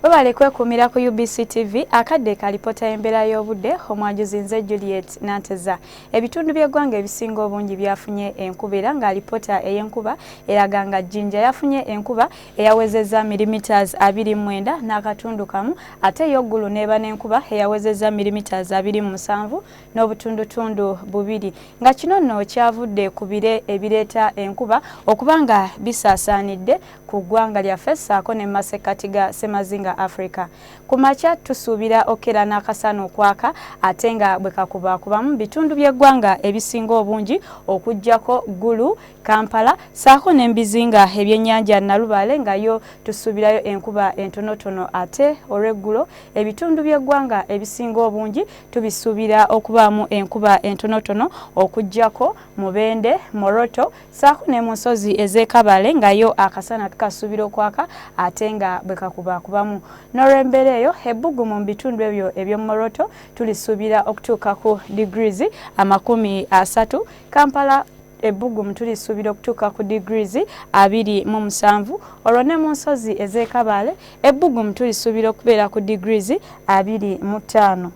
webale kwekuumira ku UBC TV akadde ka lipoota y'embeera y'obudde omwajuzi nze Juliet Nanteza ebitundu by'eggwanga ebisinga obungi byafunye enkuba era nga lipoota ey'enkuba eraga nga Jinja yafunye enkuba eyawezezza milimeters abiri mwenda n'akatundu kamu ate yoggulu n'eba n'enkuba eyawezezza milimeters abiri mu musanvu n'obutundutundu bubiri nga kino nno kyavudde ku bire ebireeta enkuba okuba nga bisaasaanidde ku ggwanga lyaffe ssaako ne mu masekkati ga Ssemazinga Afrika. Ku makya tusuubira okukera n'akasana okwaka ate nga bwe kakubaakubamu mu bitundu by'eggwanga ebisinga obungi okuggyako Gulu, Kampala ssaako ne mu bizinga ebyennyanja Nalubaale nga yo tusuubirayo enkuba entonotono ate olw'eggulo ebitundu by'eggwanga ebisinga obungi tubisuubira okubaamu enkuba entonotono okuggyako Mubende, Moroto saako ne mu nsozi ez'e Kabale nga yo akasana tukasuubira okwaka ate nga bwe kakubaakubamu. N'olw'embeera eyo, ebbugumu mu bitundu ebyo eby'omu Moroto tulisuubira okutuuka ku degrees amakumi asatu, Kampala ebbugumu tulisuubira okutuuka ku degrees abiri mu musanvu, olwo ne mu nsozi ez'e Kabale ebbugumu tulisuubira okubeera ku degrees abiri mu ttaano.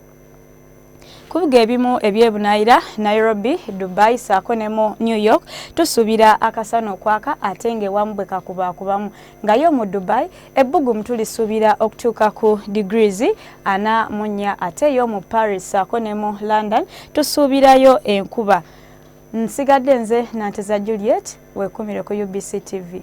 ku bibuga ebimu eby'ebunaayira nairobi dubai saako ne mu new york tusuubira akasana okwaka ate ng'ewamu bwe kakubaakubamu nga yo mu dubai ebbugumu tulisuubira okutuuka ku degrees ana mu nnya ate yo mu paris saako ne mu london tusuubirayo enkuba nsigadde nze nanteza juliet wekumire ku ubc tv